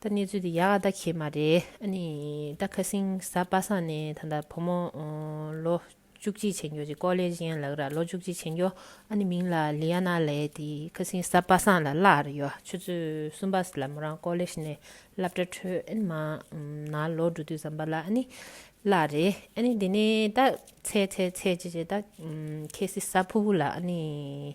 ད་གནས་ཚུལ་དེ་ཡ་ག་ད་གེ་མ་རེད་ཨ་ནི་ད་ཁ་སིང་ས་པ་ས་ནས་ད་ད་བུ་མོ་ལོ་བཅུ་གཅིག་བྱེད་འགྱོ་ཅིག་ཀོ་ལེ་ཇི་ཡན་ལག་ར་ལོ་བཅུ་གཅིག་བྱེད་འགྱོ་ཨ་ནི་མིང་ལ་ལི་ཡ་ན་ལེ་དེ་ཁ་སིང་ས་པ་སང་ལ་ལ་ར་ཡོ་ཆུ་ཚོད་གསུམ་པ་ལ་མོ་རང་ཀོ་ལེ་ཇ་ནས་སླབ་གྲ་འཕྲོད་ཨ་ནི་མ་ན་ལོ་འགྲོ་དུས་ཙམ་པ་ལ་ཨ་ནི་ལ་རེད་ཨ་ནི་དེ་ནས་ད་ཚེ་ཚེ་ཚེ་ཇེ་ཇེ་ད་ཁེ་སི་ས་ཕུ་བུ་ལ་ཨ་ནི།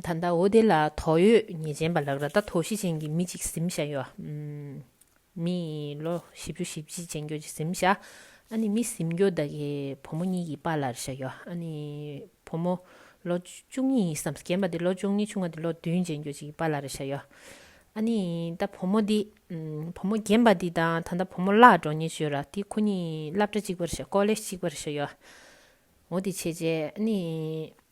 ད་ལྟ་འོ་དེ་ལ་དོགས་ཡོད་ཉེས་ཅན་པ་ལགས་ར་ད་དོགས་གཞི་ཅན་གྱི་མི་ཅིག་གཟིམ་བཞག་ཡོད་ཨ། མི་ལོ་བཞི་བཅུ་བཞི་བཅི་ཅན་གྱོད་ཅིག་གཟིམ་བཞག་ཨ་ནི་མི་གཟིམ་གྱོད་ད་གི་བུ་མོ་གཉིས་ཀྱི་པ་ལར་བཞག་ཡོད་ཨ་ནི་བུ་མོ་ལོ་བཅུ་གཉིས་ཡིན་བསམ་རྒན་པ་དེ་ལོ་བཅུ་གཉིས་ཆུང་བ་དེ་ལོ་བདུན་ཅན་གྱོད་ཅིག་གི་པ་ལར་བཞག་ཡོད་ཨ་ནི་ད་བུ་མོ་དེ། བུ་མོ་རྒན་པ་དེ་དང་ད་ལྟ་བུ་མོ་བླ་འགྲོ་ཉེས་གྱོད་ར་དེ་ཁོ་གཉིས་སླབ་གྲ་གཅིག་པར་བཞག་ཀོ་ལེ་གཅིག་པར་བཞག་ཡོད་ཨ་འོ་དེ་བྱས་རྗེས་ཨ་ནི།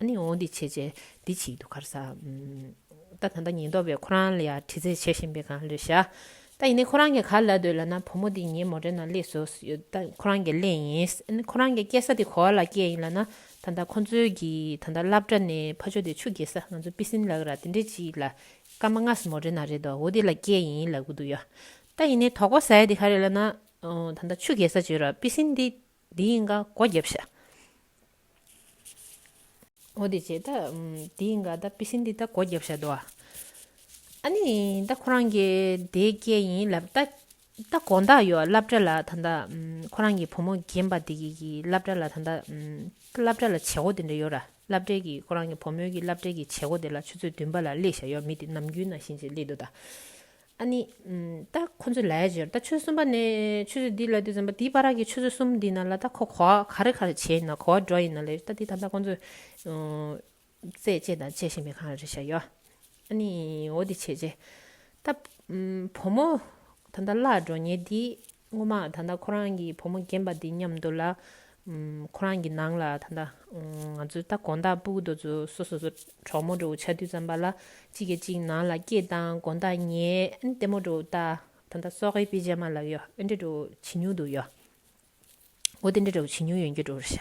ཨ་ནི་འོ་འདི་བྱེད་བྱེད་འདི་བྱེད་ཀྱི་འདུག་ག་རེ་ཟ། ད་ད་ད་ཉེན་རྟོག་པས་ཁོ་རང་ལ་ཡར་དྲི་རྩད་བྱེད་བཞིན་པའི་སྒང་ལས་ཤག། ད་ཡིན་ནའི་ཁོ་རང་གིས་ག་ལ་འདོད་ལ་ན་བུ་མོ་འདི་ངའི་མོ་རེད་ན་གླེགས་བཟོ་སུ་ཡོད་ད་ཁོ་རང་གིས་གླེང་ཡིན། ཨ་ནི་ཁོ་རང་གིས་སྐྱེལ་ས་དེ་གོ་བ་ལ་སྐྱེལ་ཡིན་ལ་ན་ད་ད་ཁོ་ཚོའི་གི་ད་ད་སླབ་གྲ་ནས་ཕ་ཆོ་དེ་ཆུ་འགྱེལ་ས་ང་ཚོ་པི་སིན་ལག་ར་དེ་འདྲས་ཅིག་ལ་སྐར་མ་ལྔ་སུ་མོ་རེད་ན་རེད་འདོ་འོ་དེ་ལ་སྐྱེལ་ཡིན་ལབ་གི་འདུག་ཡ། ད་ཡིན་ནའི་དོག་པ་ཟ་ཡ་དེ་ག་རེད་ལ་ན། ད་ད་ཆུ་འགྱེལ་ས་བྱོས་ར་པི་སིན་དེ། འདི་ཡིན་ག་སྒོ་རྒྱབ་ཤ། ཨོ་དེ་བྱས་ད། འདི་ཡིན་ག་ད་པི་སིན་འདི་ད་སྒོ་རྒྱབ་ཤ་དོ། ཨ་ནི་ད་ཁོ་རང་གི་དེའི་སྐད་ཡིན་ལབ་ད། ད་དགོངས་དག་ཡོད་བསླབ་གྲྭ་ལ་ད་ད། ཁོ་རང་གི་བུ་མོ་རྒན་པ་དེ་གི་བསླབ་གྲྭ་ལ་ད་ད། ད་བསླབ་གྲྭ་ལ་བྱེད་སྒོ་དེ་འདྲ་ཡོད་ར་བསླབ་གྲྭའི་གི་ཁོ་རང་གི་བུ་མོའི་གི་བསླབ་གྲྭའི་གི་བྱེད་སྒོ་དེ་ལ་ཆུ་ཚོད་བདུན་པ་ལ་སླེ་ཤ་ཡོད་མི་དེ་ནམ་རྒྱུན་ན་བཞིན་ཅིག་སླེ་འདུག་ད། ཨ་ནི། ད་ཁོ་ཚོས་ལས་བྱེད་ད་ཆོས་གསུམ་པ་ནས་ཆོས་བྱེད་འདི་ལ་དེ་བྱམས་པ་དེའི་པ་ར་གི་ཆོས་བྱེད་གསུམ་འདི་ན་ལ་ད་ཁོ་གོ་བ་ག་རེ་ག་རེ་བྱེད་ཡིན་ན་གོ་བ་འགྲོ་ཡིན་ན་ལས་ད་དེ་ད་ལྟ་ཁོ་ཚོས། རྩད་བཅད་དང་བཅད་བཞིན་པའི་གང་རེ་བྱ་ཡོད། ཨ་ནི། འོ་དེ་བྱས་རྗེས། ད། བུ་མོ། ད་ལྟ་བླ་འགྲོ་ཉེ་དེའི། སྔོན་མ་ད་ལྟ་ཁོ་རང་གི་བུ་མོ་རྒན་པ་འདི་མཉམ་འདུག་ལ། ཁོ་རང་གི་ནང་ལ་ད་ལྟ་ང་ཚོའི་ལྟ་དགོངས་དག་སྤུག་རྡོ་ཚོ་སོ་སོ་སོ་གྲོགས་མོ་འགྲོ་ཆ་དུས་ཙམ་པ་ལ་གཅིག་གིས་གཅིག་ནང་ལ་སྐྱེས་དང་དགོངས་དག་ཉལ་ཨེ་ཏེ་མོ་འགྲོ་ལྟ་ད་ལྟ་སོག་ཧེ་པི་ཇ་མ་ལ་ཡོ་ཨེ་འདྲེ་འགྲོ་བྱེད་མྱུག་འདུག་ཡོ། འོ་དེ་འདྲ་འདྲ་བོ་བྱེད་མྱོང་ཡོན་གྱི་འགྲོ་རུ་བྱ།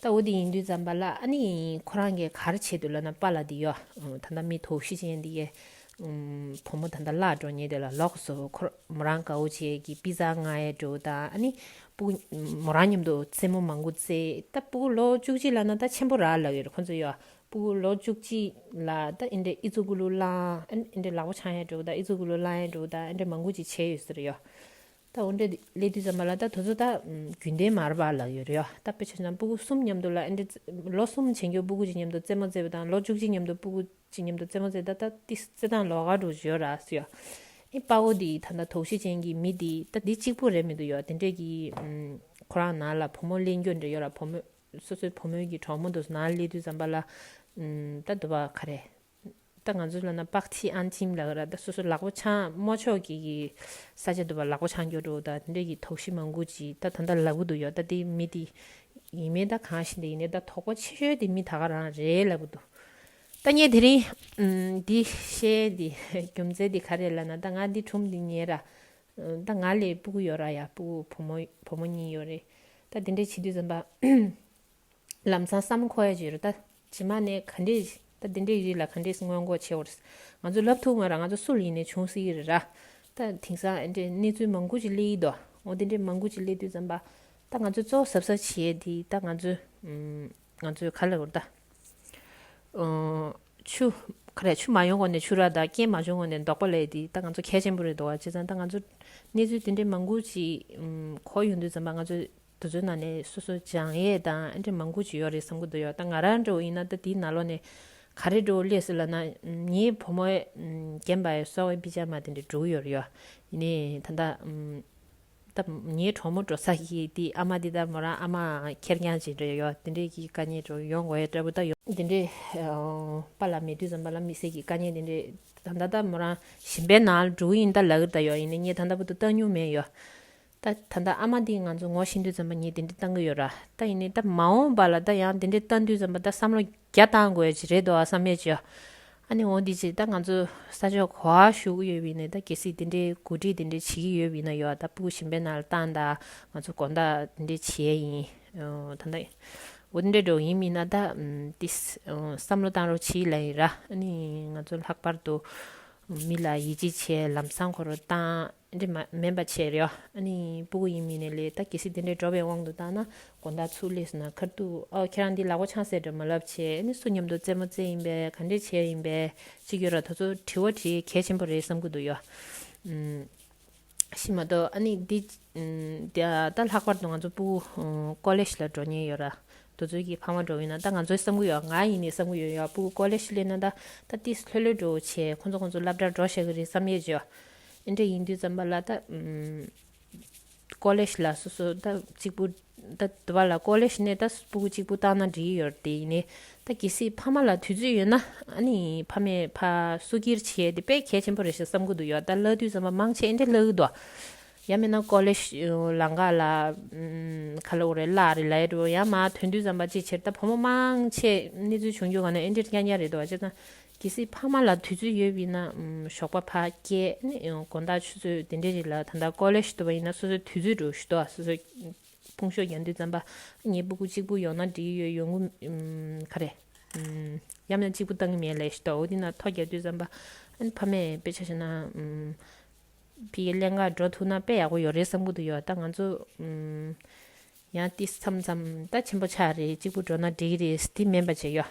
ད་འོ་དེ་ཡིན་དུས་ཙམ་པ་ལ་ཨ་ནི་ཁོ་རང་གི་གར་བྱེད་དུ་ལ་ན་པ་ལ་དེ་ཡོ། ད་ད་མི་དོགས་ཤི་ཅན་དེ་ཡེ། བུ་མོ་ད་ད་ལགས་འགྲོ་ཉེ་དེ་ལ་ལོགས་སོ་ཁོ་མོ་རང་དགའ་བོ་བྱེད་ཀྱི་པི་ཛ་ང་ཡེ་འགྲོ་ད་ཨ་ནི་པུ་གུ་མོ་རང་མཉམ་དུ་རྩེད་མོ་མང་གུ་རྩེ་ད་པུ་གུ་ལོགས་བཅུ་གཅིག་ལ་ན་ད་ཆེན་པོ་ར་ལགས་ཡོད་ཁོ་ཚོ་ཡོ། པུ་གུ་ལོགས་བཅུ་གཅིག་ལ་ད་ཨེ་འདྲ་ཨི་ཙུ་གུ་ལུ་ལང་ཨེ་འདྲ་ལག་པ་ཆང་ཡེ་འགྲོ་ད་ཨི་ཙུ་གུ་ལུ་ལང་ཡེ་འགྲོ་ད་ཨེ་འདྲ་མང་གུ་ཅིག་བྱེད་ཡོད་ཟེར་ཡོ། ད་འོ་འདི་ལས་དུས་ཙམ་པ་ལ་ད་དུ་ཚོད་ད་རྒྱུན་ལྡན་མར་བར་ལག་ཡོད་རེད་ཡོ་ད་དཔེ་ཆ་ཚང་སྤུ་གུ་གསུམ་མཉམ་དུ་ལ་འོ་འདི་ལོ་གསུམ་བྱེད་འགྱོ་སྤུ་གུ་གཅིག་མཉམ་དུ་རྩེད་མོ་རྩེད་པ་དང་ལོ་བཅུ་གཅིག་མཉམ་དུ་སྤུ་གུ་གཅིག་མཉམ་དུ་རྩེད་མོ་རྩེད་ད་ད་ཏི་རྩེད་སྟངས་ལོག་ག་འགྲོ་གི་ཡོ་ར་ཡོ་ཨི་དཔའ་བོ་འདི་ད་ད་དོགས་གཞི་ཅན་གྱི་མི་འདི་ད་འདི་གཅིག་པོ་རེད་མི་འདུག་ཡོ་དེ་འདྲས་ཀྱི་ཁོ་རང་ནང་ལ་བུ་མོ་གླེང་རྒྱོ་འདྲས་ཡོ་ར་བུ་མོས་སོ་སོའི་བུ་མོའི་གྱི་གྲོགས་མོ་འདུག་ནང་ལས་དུས་ཙམ་པ་ལ་ད་འདུག་པ་ག་རེད་ད་ང་ཚོ་ལ་ན་པག་ཐི་ཨན་ཐིམ་ལ་ད་སོ་སོ་ལག་པོ་ཆང་དམོ་ཆོག་གི་གི་ས་ཆ་དུ་བ་ལག་པོ་ཆང་གྱོ་འགྲོ་ད་དེ་འདྲ་གི་དོག་ཤི་མང་གུ་ཅི་ད་ད་ད་ལ་བུ་དུ་ཡོ་ད་དེ་མི་དེ་ཡིན་མེ་ད་གང་ཤི་འདི་ཡིན་ནེ་ད་དོག་པོ་ཆེ་ཤོས་དེ་མི་ད་ག་རང་རེ་ལ་བུ་དུ། ད་ངས་དེ་རིང་འདི་བཤད་འདི་རྒྱུ་མཚན་འདི་ག་རེ་ལ་ན་ད་ང་འདི་ཁྲུམ་འདི་ཉེ་ར་ད་ང་ལས་སྤུ་གུ་ཡོ་ར་ཡ་སྤུ་གུ་བུ་མོ་བུ་མོ་གཉིས་ཡོ་རེད་ད་དེ་འདྲ་བྱེད་དུས་ཙམ་པ་ལམ་སང་བསམ་ཁོ་ཡ་བྱེད་རོ་ད། ཇི་མ་ནས་ག་འདྲས། ད་འདི་འདྲས་ཡོད་ལ་ག་འདྲས་སྔོན་མགོ་ཕྱེ་བར། ང་ཚོ་ལབ་ཐུབ་ང་རང་ང་ཚོ་སུ་ལ་ཡིན་ནས་བྱུང་སྲིད་ཀྱི་རེད་ར། ད་དེང་སང་འདྲས་གནས་ཚུལ་མང་དགུ་ཅིག་གླེ་ཡི་འདུག་ཨོ་འདི་འདྲས་མང་དགུ་ཅིག་གླེ་དུས་ཙམ་པ། ད་ང་ཚོས་གཙོ་བོ་གཟབ་གཟབ་བྱེད་དེ་ད་ང་ཚོས། ང་ཚོས་ག་ལ་བོར་ད། ཆུ། ཁ་རས་ཆུ་མ་ཡོང་གོང་ནས་ཆུ་རག་ད་རྐྱེན་མ་བྱུང་གོང་ནས་འདོགས་པ་ལས་དེ་ད་ང་ཚོ་གལ་ཆེན་པོ་རེད་འདུག་བ་བྱས་ཙང་ད་ང་ཚོ། གནས་ཚུལ་འདི་འདྲས་མང་དགུ་ཅིག་གོ་ཡོང་དུས་ཙམ་པ་ང་ཚོས་དུ་ཚོའི་ནང་ནས་སོ་སོ་སྦྱང་ཡས་དང་ཨ་འདྲེ་མང་པོ་ཅིག་ཡོད་རེད་བསམ་གི་འདུག་ཡོད་ད་ང་རང་འདྲ་བོ་ཡིན་ན་ད་དེའི་ན་ལོ་ནས་ག་རེ་འགྲོ་སླེ་སི་ལ་ན་ངའི་བུ་མོ་རྒན་པ་ཡོད་སོག་བའི་པི་ཇ་མ་དེ་འདྲ་འགྲོ་གི་ཡོད་རེད་ཡོད་ནས་ད་ད་ད་ངའི་གྲོགས་མོ་འགྲོ་ས་ཀྱི་དེ་ཨ་མ་དེ་ད་མོ་རང་ཨ་མ་ཁེར་རྐྱང་ཅིག་འདྲ་ཡོད་དེ་འདྲས་ཀྱི་དཀའ་ཉེ་འགྲོ་ཡོང་གོ་ཡས་འདྲ་བོ་ད་ཡོད། དེ་འདྲས་པ་ལ་མེད་དུས་ཙམ་པ་ལ་མི་སེར་གྱི་དཀའ་ཉེ་དེ་འདྲས་ད་ད་ད་མོ་རང་ཞིམ་པའི་ནང་ལ་འགྲོ་གི་ཡིན་ད་ལག་གི་ད་ཡོད་ཡིན་ནས་ངས་ད་ད་བུ་ཏུ་ལྟ་མྱོང་མེད་ཡོད། ད་ད་ལྟ་ཨ་མ་འདིས་ང་ཚོ་ངོ་ཤེས་འདུས་ཙམ་པ་ངས་དེ་འདྲི་བཏང་གི་ཡོད་ར་ད་ཡིན་ནའི་ད་མ་འོངས་པ་ལ་ད་ཡང་དེ་འདྲི་བཏང་འདུས་ཙམ་པ་ད་བསམ་བློ་རྒྱ་བཏང་དགོས་ཀྱི་རེད་འདུག་བསམ་མེད་ཀྱིས། ཨ་ནི་འོ་འདི་ཅི་ད་ང་ཚོ་ས་ཕྱོགས་གོ་བ་ཞུ་གི་ཡོད་པ་ཡིན་ནའི་ད་གལ་སྲིད་དེ་འདྲའི་གོ་སྒྲིག་དེ་འདྲའི་བྱེད་ཀྱི་ཡོད་པ་ཡིན་ན་ཡོད་ད་སྤུ་གུ་ཞིམ་པའི་ནང་ལ་བཏང་ད་ང་ཚོ་དགོངས་དག་དེ་འདྲའི་བྱས་ཡིན་ད་ད་འོ་དེ་འདྲའི་འགྲོ་གི་ཡིན་མིན་ན་ད་དེ་བསམ་བློ་བཏང་རོགས་བྱེད་ལེ་ཡིན་ར་ཨ་ནི་ང་ཚོ་ལྷག་པར་དུ་མི་ལ་ཡིད་ཆེས་བྱས་ལམ་སང་འཁོར་བ་བཏང། འདྲེ་མ་མེད་པ་བྱས་རེད། སྤུ་གུ་ཡིན་མིན་ནས་ལས་ད་གལ་སྲིད་དེ་འདྲའི་འགྲོ་བའི་དབང་དུ་བཏང་ན་དགོན་བདག་ཚུར་སླེབས་སོང་ན་ཁར་འདུག་ཨོ་ཁྱེད་རང་འདི་ལག་པ་ཆང་ཟས་འདྲ་མ་ལབ་བྱས་སུ་སྙམ་འདུག་རྩེད་མོ་རྩེ་ཡིན་པས་ག་འདྲས་བྱས་ཡིན་པས་ཅིག་ཡོད་ར་ད་ཚོ་དྲི་བ་དྲི་གལ་ཆེན་པོ་རེད་བསམ་གི་འདུག་ཡོད་ཤི་མ་གཏོགས་འདི་ད་ལྷག་པར་དུ་ང་ཚོ་སྤུ་གུ་ཀོ་ལེ་ཞི་ལ་འགྲོ་ཉེན་ཡོད་ར་འདུག་ཚོད་ཀྱིས་ཕངས་བ་འགྲོ་འོས་ན་ད་ང་ཚོས་བསམ་གི་ཡོད་ང་ཡིན་ནས་བསམ་གི་ཡོད་ཡོད་སྤུ་གུ་ཀོ་ལེ་ཞི་སླེབས་ན་ད་ད་ཏིས་ལྷོད་ལྷོད་འགྲོ་འོས་བྱས་ཁོ་ཚོ་ཁོ་ཚོ་ལབ་འདྲ་འགྲོ་ཤག་གི་རེད་བསམ་ཡས་བྱས། ཨེ་འདྲ་ཡིན་དུས་ཙམ་པ་ལ་ད། ཀོ་ལེཤ་ལ་སོ་སོ་ད་གཅིག་པུ། ད་དེ་བ་ལ་ཀོ་ལེཤ་ནས་ད་སྤུ་གུ་གཅིག་པུ་བཏང་ན་འགྲིག་ཡོད་དེ་ཡིན། ད་གལ་སྲིད་ཕ་མ་ལ་དུས་ཚོད་ཡོད་ན། ཨ་ནི་ཕ་མས་ཕ་སུ་ཁྱིར་བྱེད་དེ་དཔེ་གལ་ཆེན་པོ་རེད་ཞེས་བསམ་གི་འདུག་ཡོད་ད་གླ་དུས་ཙམ་པ་མང་ཆེ་ཨེ་འདྲ་གླ་གི་འདུག་ཨ། ཡང་མིན་ན་ཀོ་ལེཤ་ལ་འགག་ལ། ཁ་ལོ་རེད་གླ་རེད་ལ་ཡོད་དུ་ཡང་མ་ཐོན་དུས་ཙམ་པ་ཅིའི་ཕྱིར་ད་ཕོ་མོ་མང་ཆེ་གནས་ཚུལ་བྱུང་རྒྱུ་ག་ནས་ཨེ་འདྲ་རྐྱང་རྐྱང་རེད་དུ་ཨ་ཅེ་ད། གལ་སྲིད་ཕ་མ་ལ་དུས་ཚོད་ཡོད་པའི་ན་ཞོགས་པ་ཕ་སྐད་དགོན་བདག་ཆུ་ཚོད་དེ་འདྲའི་རིགས་ལ་ད་ལྟ་ཀོ་ལེ་ཞུ་དོ་བ་ཡིན་ན་སོ་སོའི་དུས་ཚོད་དྲུག་ཞུ་དོ་བ་སོ་སོའི་དཔུང་ཤོག་རྒྱ་འདུལ་རྩམ་པ་ཉེ་པོ་གུ་གཅིག་པུ་ཡོང་ན་འགྲིག་ཡོད་ཡོང་གུ་ག་རེ་ཡབ་མྱང་གཅིག་པུ་བཏང་གི་མེད་ལེ་ཞུ་དོ་བ་འདི་ན་ཐོ་རྒྱ་འདུལ་རྩམ་པ་ཕ་མས་དཔེ་ཆ་ཤེས་ན་ཕི་གི་ཀླན་ཀ་འགྲོ་ཐུག་ན་དཔེ་ཡག་པོ་ཡོད་རེད་བསམ་གུ་དུ་ཡོད་ད་ང་ཚོ་ཡང་ཏི་སམ་ཙམ་ད་ཆེན་པོ་ཆག་རེད་གཅིག་པུ་འགྲོ་ན་འགྲིག་གི་རེད་སི་ཏི་མེན་པ་བྱས་ཡོད།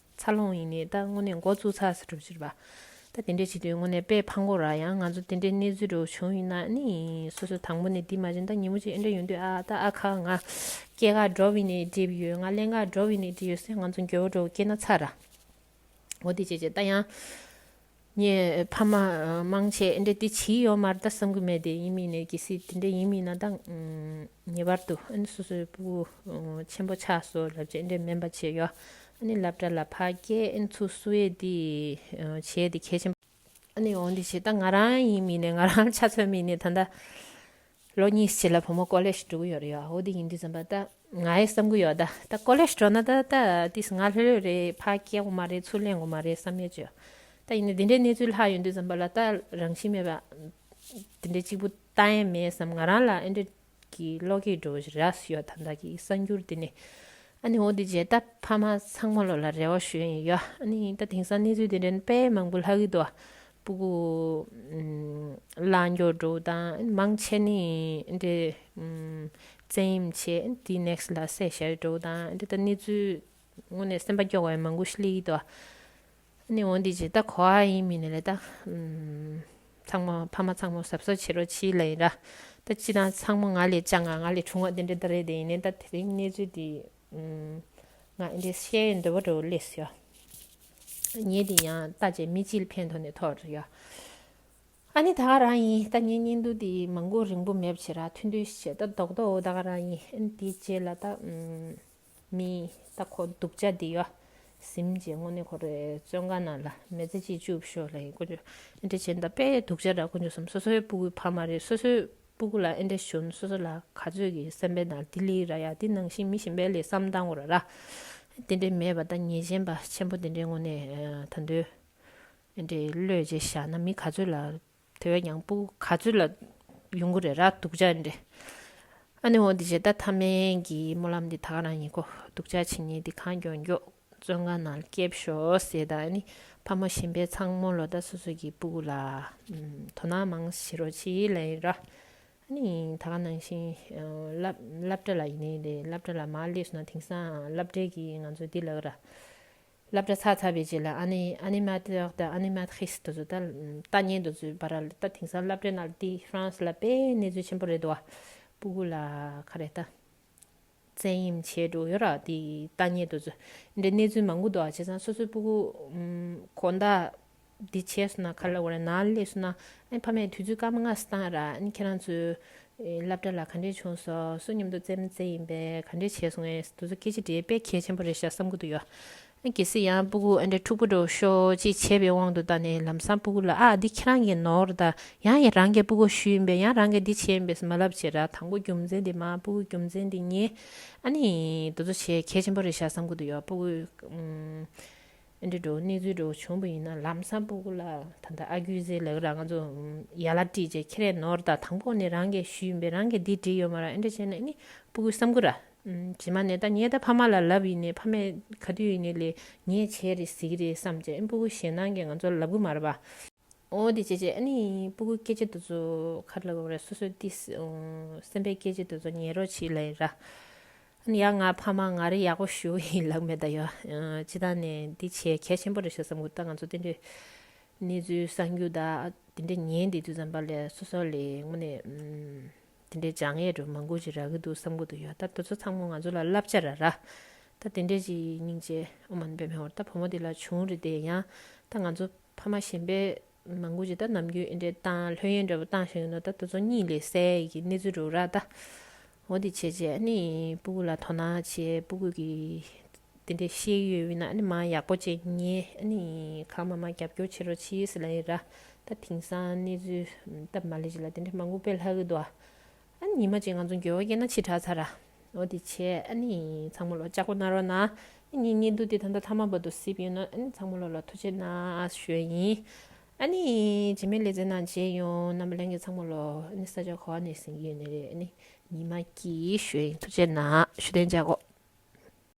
འཚར་ལོངས་ཡིན་ནའི་ད་དངོས་གནས་འགོ་བཙུགས་ཚར་ས་གྲུབ་ཕྱིར་བ། ད་དེ་འདྲས་བྱེད་དུས་དངོས་གནས་དཔེ་ཕ་འགོ་ར་ཡང་ང་ཚོ་དེ་འདྲའི་གནས་ཚུལ་རེའུ་བྱུང་ཡིན་ན་ནི་སོ་སོ་དང་པོ་ནས་འདི་མ་བྱིན་ད་ཉིན་མོ་གཅིག་ཨེ་འདྲ་ཡོང་དུས་ཨ་ད་ཨ་ཁ་ང་སྐྱེས་ཁ་འགྲོ་བའི་ནས་འདྲིས་ཡོད་ང་གླེན་ཁ་འགྲོ་བའི་ནས་འདྲིས་ཡོད་སེ་ང་ཚོ་འགྱོད་བོ་འགྲོ་བོ་སྐྱེས་ན་ཚར་ར་འོ་དེ་བྱས་བྱས་ད་ཡང་ངས་ཕ་མ་མང་ཆེ་འདྲེ་དེ་ཇི་ཡོད་མར་ད་བསམ་གི་མེད་དེ་ཡིན་མིན་ནས་གི་སི་དེ་འདྲེ་ཡིན་མིན་ན་ད་ངེས་པར་དུ་ཨ་སོ་སོའི་བུ་ཆེན་པོ་ཆགས་སོ་ལབ་ཅེས་འདྲེ་སྨན་པ་ཆེ་ཡོ་ཨ་ནི་ལབ་དྲ་ལ་ཕ་སྐད་ཨན་ཚུགས་སུ་ཡེ་དེ་བྱས་དེ་གལ་ཆེན་པོ། ཨ་ནི་འོ་འདི་བྱས་ད་ང་རང་ཡིན་མིན་ནས་ང་རང་ཆ་མཚོན་མིན་ནས་ད་ད། ལོ་གཉིས་ཕྱི་ལ་བུ་མོ་ཀོ་ལེ་ཞིག་འགྲོ་གི་ཡོད་རེད་ཡ་ཧོ་འདི་ཡིན་དུས་ཙམ་པ་ད་ང་ཡི་བསམ་གི་ཡོད་ད་ད་ཀོ་ལེ་ཞིག་འགྲོ་ན་ད་ད་དུས་ང་ལྷོད་ལྷོད་རེད་ཕ་སྐྱེ་གོ་མ་རེད་ཚུར་ལེན་གོ་མ་རེད་བསམ་ཡོད་ཅོད་ད་ཡིན་ནའི་འདི་འདྲའི་གནས་ཚུལ་ལྷག་ཡོད་དུས་ཙམ་པ་ལ་ད་རང་བཞིན་མེད་པ་འདི་འདྲའི་གཅིག་པུ་ལྟ་ཡན་མེད་བསམ་ང་རང་ལ་ཨེ་འདྲ་གི་ལོ་གས་འགྲོ་བཞིན་ར་སུ་ཡོད་ད་ད་གི་གསར་འགྱུར་འདི་ནི་ཨ་ནི་ཧོ་འདི་བྱས་ད་ཕ་མ་ཚང་མ་ལོ་ལ་རེ་བ་ཞུ་ཡིན་ཡོད་ཨ་ནི་ད་དེང་སང་གནས་ཚུལ་འདི་འདྲའི་དཔེ་མང་པོ་ལྷག་གི་འདུག་པུ་གུ། ལ་འགྱུར་འགྲོ་དང་མང་ཆེ་ནི་འདི། བཙན་གཡེམ་བྱེད་དེའི next ལ་བསད་བྱ་འགྲོ་དང་འདི་ལྟར་གནས་ཚུལ། དངོས་ནས་སེམས་པ་སྐྱོ་བའི་མང་གུ་ཤི་ལི་དོ། ནི་འོ་འདི་ཇི་ལྟར་གོ་བ་ཡིན་མིན་ལ་ད། ཚང་མ་ཕ་མ་ཚང་མ་ཟབ་གསོ་བྱེད་རོགས་ཕྱི་ལའི་ར། ད་སྤྱི་དང་ཚང་མ་ང་ལས་ལྕགས་ང་ང་ལས་ཆུང་བ་དེ་འདྲ་ད་རེད་དེ་ཡིན་ནའི་ད་དེ་རིང་གནས་ཚུལ་དེ། ང་འདི་བཤད་འདོད་པ་རོ་ལེས་ཡོད། ཉལ་དེ་ཡང་ལྟ་བྱས་མི་ཅིལ་ཕན་ཐོགས་ནས་ཐོག་རེ་ཡོད། ཨ་ནི་ད་ག་རང་ཡིན་ལྟ་ཉན་ཉན་འདུག་དེ་མང་པོ་རིང་པོ་མེད་པ་བྱས་ར་ཐུན་ཐུན་བྱས་ལྟ་རྡོག་རྡོག་འོ་ད་ག་རང་ཡིན་ཨན་དེ་རྗེས་ལ་ལྟ་མི་ལྟ་ཁོ་སྡུག་ཅག་དེ་ཡོད། གཟིམ་རྗེས་དངོས་གནས་ཁོ་རེ་བཙོན་ཁང་ནང་ལ་མེ་ཙེ་གཅིག་བཅུག་ཞོག་ལ་ཡིན་དཀོན་མཆོག་ཨན་དེ་རྗེས་ལ་ལྟ་དཔེ་སྡུག་ཅག་ར་དཀོན་མཆོག་བསམ་སོ་སོའི་སྤུ་གུའི་ཕ་མ་རེད་སོ་སོའི་སྤུ་གུ་ལ་ཨེ་འདྲས་གཞོན་སོ་སོ་ལ་ག་ཚོད་ཀྱི་སེམས་པའི་ནང་དི་ལི་ར་ཡ་དི་ནང་བཞིན་མི་ཞིམ་པའི་ལས་བསམ་སྟངས་འོར་ར་ར་དེ་འདྲས་མེད་པ་ད་ངེས་ཅན་པ་ཆེན་པོ་དེ་འདྲས་ངོ་ནས་ད་འདོད་ཨེ་འདྲས་བློས་བྱས་བཞག་ན་མི་ག་ཚོད་ལ་དེ་བས་ཀྱང་སྤུ་གུ་ག་ཚོད་ལ་ཡོང་གི་རེད་ར་སྡུག་ཅག་ཨེ་འདྲས་ཨ་ནི་འོ་འདི་བྱས་ད་ཐ་མན་གྱི་སྨོན་ལམ་འདི་ད་ག་རང་ཡིན་ཁོ་སྡུག་ཅག་ཕྱི་ཉིན་འདི་གང་མགྱོགས་མགྱོགས། བཙོན་ཁང་ནང་སྐྱེལ་ཞོག་ཟེར་དང་ནི་ཕ་མ་གཞན་པའི་ཚང་མོ་ལོ་ཟླ་སོ་སོ་གི་སྤུ་གུ་ལ་དོ་སྣང་མང་ཞེས་རོ་ཆི་ལན་ཡིན་ར་ནི་ད་ག་ནང་བཞིན་སླབ་གྲ་ལ་ཡིན་ནའི་རེད་སླབ་གྲ་ལ་མ་སླེབས་སོང་ན་དེང་སང་སླབ་གྲའི་གི་ང་ཚོ་འདི་ལགས་ར་སླབ་གྲ་ཚ་ཚ་བའི་རྗེས་ལ Animateur དང Animatrice དེ་ཚོ་ད་ལྟ་ཉན་དུ་འཛུལ་བ་ར་ལ་ད་དེང་སང་སླབ་གྲའི་ནང་དེ France ལ་དཔེ་གནས་ཚུལ་ཆེན་པོ་རེད་དོ་བ་སྤུ་གུ་ལ་ག་རེ་ད། བཙན་གཡེམ་བྱས་འགྲོ་ཡོད་ར་དེ་ལྟ་ཉེ་དུ་ཚོས་འདྲེ་གནས་ཚུལ་མང་པོ་འདུག་བྱས་ཙང་སོ་སོའི་སྤུ་གུ། གོ་ཟླ། འདི་བྱས་སོང་ན་ག་ལ་འོ་ར་ནང་སླེབས་སོང་ན་ཨེ་ཕ་མས་དུས་ཚོད་སྐར་མ་ལྔ་སྟངས་ར་ཨེ་ཁྱེད་རང་ཚོའི། སླབ་གྲ་ལ་ག་འདྲས་བྱུང་སོ་སོ་སྙམ་དུ་བཙན་མི་བཙན་ཡིན་པས་ག་འདྲས་བྱས་སོང་ཨེ་དུས་ཚོད་སྐད་ཅིག་འདྲེས་དཔེ་གལ་ཆེན་པོ་རེད་ཤག་བསམ་གི་འདུག་ཡོད་གལ་སྲིད་ཡང་སྤུ་གུ་ཨ་འདྲའི་འཁྲུག་པོ་འགྲོ་ཤོག་ཅེས་བྱས་པའི་དབང་དུ་ད་ནས་ལམ་སང་སྤུ་གུ་ལ་ཨ་འདི་ཁྱེད་རང་གི་ནོར་རེད་ད་ཡང་ཡང་རང་གི་སྤུ་གུ་ཞུས་ཡིན་པས་ཡང་རང་གིས་འདི་བྱས་ཡིན་པས་སུ་མ་ལབ་བྱས་ར་དང་པོ་རྒྱུ་མཚན་འདི་མ་སྤུ་གུ་རྒྱུ་མཚན་འདི་ངས་ཨ་ནི་འདི་ཚོ་བྱས་གལ་ཆེན་པོ་རེད་བཞག་བསམ་གི་འདུག་ཡང་སྤུ་གུ་ཨ་འདྲའི་འགྲོ་གནས་ཚུལ་འགྲོ་གི་བྱུང་བ་ཡིན་ན་ལམ་སང་སྤུ་གུ་ལ་ད་ལྟ་ཨ་རྒྱུས་ཟེར་ལེ་ག་ར་ང་ཚོ་ཡར་ལ་བྲིས་རྗེས་ཁྱེད་རའི་ནོར་རེད་ད་དང་པོ་ནས་རང་གིས་ཞུས་ཡིན་པས་རང་གིས་འདི་བྲིས་ཡོད་མ་ར་ཨ་འདྲ་བྱས་ན་ཨ་ནི་སྤུ་གུས་བསམ་གི་ར། བྱེ་མ་ནས་ད་ངས་ད་ཕ་མ་ལ་ལབ་ཡིན་ནས་ཕ་མས་ག་དུས་ཡིན་ནས་ལས་ངས་བྱས་རེད་ཟེར་གྱི་རེད་བསམ་བྱས་སྤུ་གུ་ཞེད་སྣང་གིས་ང་ཚོར་ལབ་གི་མ་རེད་པ། འོ་དེ་བྱས་བྱས་ཨ་ནི་སྤུ་གུའི་སྐད་ཆ་འདི་ཚོ་ག་རེ་ལབ་པ་རེད་སོ་སོའི་ཏི་སེམས་པའི་སྐད་ཆ་འདི་ཚོ་ཉན་རོགས་བྱེད་ལེ་ར། ཨ་ཡ་ང་ཕ་མ་ང་རེ་ཡག་པོ་ཞུ་གི་ཡིན་ལབ་མེད་ད་ཡོད་སྤྱི་དང་ནས་འདི་བྱས་གལ་ཆེན་པོ་རེད་བྱས་བསམ་གི་ད་ང་ཚོ་དེ་འདྲའི་གནས་ཚུལ་གསང་རྒྱུ་ད་དེ་འདྲ་ཉན་བསྡད་དུས་ཙམ་པ་ལས་སོ་སོ་ལས་ངོ་ནས། དེ་འདྲའི་བྱ་ངན་རུ་མ་འགུལ་ཅིག་རག་གི་འདུག་བསམ་གི་འདུག་ཡོད་ད་འདི་ཚོ་ཚང་མ་ང་ཚོ་ལ་བསླབ་བྱ་ར་ར། ད་དེ་འདྲའི་ཅིག་སྙིང་རྗེ་ཨོ་མ་ནི་པའི་མེ་འོར་ད་བུ་མོ་དེ་ལ་བྱུང་རེ་བསྡད་ཡང་ད་ང་ཚོ་ཕ་མ་གཞན་པས་མ་འགུལ་ཅིག་ད་ནམ་རྒྱུན་ཨེ་འདྲའི་བཏང་ལྷོད་ཡན་འདྲ་བོ་བཏང་བཞིན་ཡོད་ནོ་ད་འདི་ཚོ་གཉིད་ལས་སད་ཡི་གི་གནས་ཚུལ་རུ་ར་ད། འོ་དེ་བྱས་རྗེས་ཨ་ནི་སྤུ་གུ་ལ་དོ་སྣང་བྱས་སྤུ་གུ་གི། དེ་འདྲའི་ཤེས་ཡོད་ཡོད་ན་མ་ཡག་པོ་བྱས་ངས་གང་མ་མ་རྒྱབ་སྐྱོར་བྱེད་རོགས་ཕྱིས་སུ་ལ་ཡི་ར། ད་དེང་སང་གནས་ཚུལ་སྟབས་མ་ལེགས་ཅིག་ལ་དེ་འདྲའི་མ་འགུག་པའི་ལྷ་གི་དུ་བ། ཉི་མ་ཅིག་ང་ཚོ་འགྱོད་བོ་སྐྱེས་ན་ཕྱིར་དྲག་ཚར་ར། འོ་དེ་བྱས་ཚང་མོ་ལོ་ལྕགས་པོ་གནང་རོགས་གནང། ངའི་ཉེ་འདུག་དེ་ད་ལྟ་ཐ་མ་བོད་དུ་སིབ་ཡོད་ནོ་ཚང་མོ་ལོ་ལ་ཐུགས་ཆེ་གནང་ཞོས་ཡིན། བྱེ་མའི་ལེ་ཚན་ནང་བྱས་ཡོང་རྣམ་པ་ལེན་གི་ཚང་མོ་ལོ་ས་ཆ་གོ་བ་ནས་ཟིན་གྱི་ཡོད་ནི་རེད་ཉི་མ་སྐྱིད་ཞོས་ཡིན་ཐུགས་ཆེ་གནང་ཞུ་དན་བྱ་གོ།